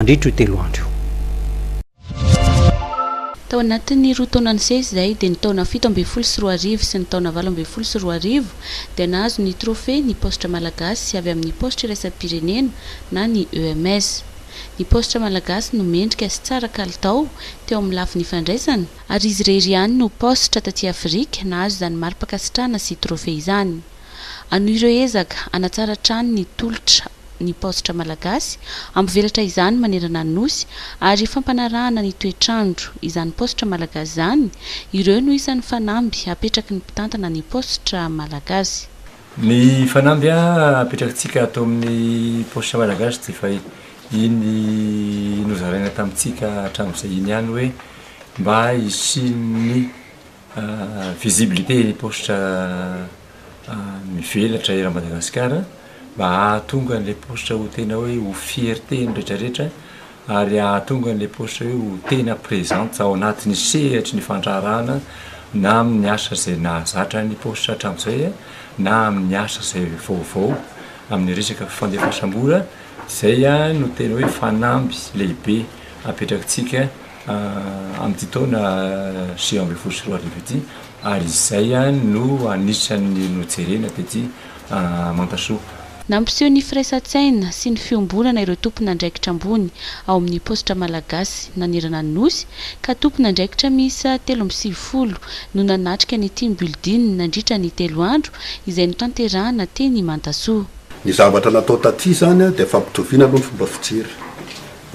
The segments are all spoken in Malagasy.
mandritra io telo andro io. Tao anatin'ny roa taona nisesy izay dia ny taona fito ambin'ny folo sy roa arivo sy ny taona valo ambin'ny folo sy roa arivo dia nahazo ny trophée ny paositra malagasy avy amin'ny paositra iraisam-pirenena na ny EMS. Ny paositra malagasy no mendrika sy tsara kalitao teo amin'ny lafiny fandraisana, ary izy irery ihany no paositra taty Afrika nahazo izany mari-pankasitrahana sy trophée izany. Hanohy ireo ezaka hanatsara hatrany ny tolotra ny paositra malagasy, hampivelatra izany manerana ny Nosy, ary fampanarahana ny toetr'andro izany paositra malagasy izany, ireo no isan'ny fanamby hapetraky ny mpitantana ny paositra malagasy. Ny fanamby hapetrakintsika ato amin'ny paositra malagasy dia efa iny nozaraina tamintsika hatramin'izay iny ihany hoe mba hisian'ny Visibilité ny paositra mivelatra eran'i Madagasikara mba hahatonga an'ilay paositra ho tena hoe ho fierten'ny rehetra rehetra ary hahatonga an'ilay paositra hoe ho tena présente ao anatin'ny sehatry ny fandraharahana na amin'ny asa izay nahazatra ny paositra hatramin'izay na amin'ny asa izay vaovao amin'ny resaka fandefasam-bola izay no tena hoe fanamby lehibe apetrakitsika amin'ity taona sivy ambin'ny folo sy roa arivo ity ary izay no anisan'ny nojerena tety Mantasoa. Nampiseho ny firaisan-tsaina sy ny fiombonana ireo tompon'andraikitra ambony ao amin'ny paositra malagasy nanerana ny Nosy ka tompon'andraikitra miisa telo amby sivifolo no nanatrika ny team building nandritra ny telo andro izay notanterahana teny Mantasoa. Ny zavatra natao taty izany dia fampitoviana aloha ny fomba fijery.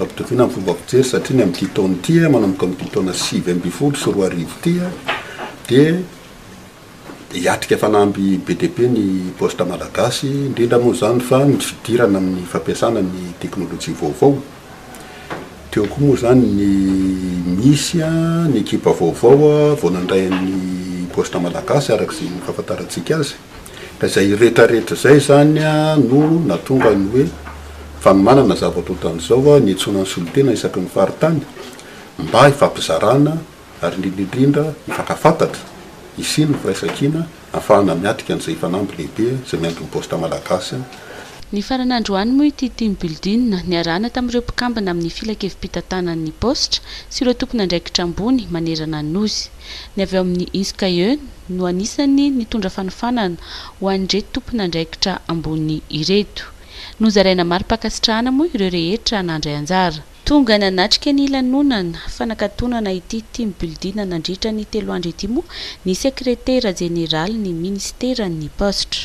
Ampitoviana amin'ny fomba fijery satria ny amin'ity taona ity, manomboka amin'ity taona sivy ambin'ny folo sy roa arivo ity dia hiatrika fanamby be dia be ny Poste Malagasy, indrindra moa izany fa ny fidirana amin'ny fampiasana ny teknolojia vaovao. Teo koa moa izany ny misy ny ekipa vaovao vao nandray an'ny Poste Malagasy araka izay fahafantarantsika azy. Ka izay retraretra izay izany no nahatonga ny hoe fanomanana zavatra ohatran'izao ny hiantsoana ny solontena isaky ny faritany mba hifampizarana ary indrindra indrindra hifankafantatra, hisian' ny firaisankina hahafahana miatrika an'izay fanamby lehibe izay miampy ny Poste Malagasy. Nifarana androany moa ity Team Building niarahana tamin'ireo mpikambana amin'ny Filankevim-pitantanan'ny Paositra sy ireo tompon'andraikitra ambony manerana ny Nosy. ny avy ao amin'ny Inskae no anisan'ny nitondra fanofanana ho an'ireto tompon'andraikitra ambony ireto. Nozaraina mari-pankasitrahana moa ireo rehetra nandray anjara. Tonga nanatrika ny lanonana fanakatonana ity Team Building nandritra ny telo andro ity moa ny Sekretera Jeneralin'ny Minisiteran'ny Paositra,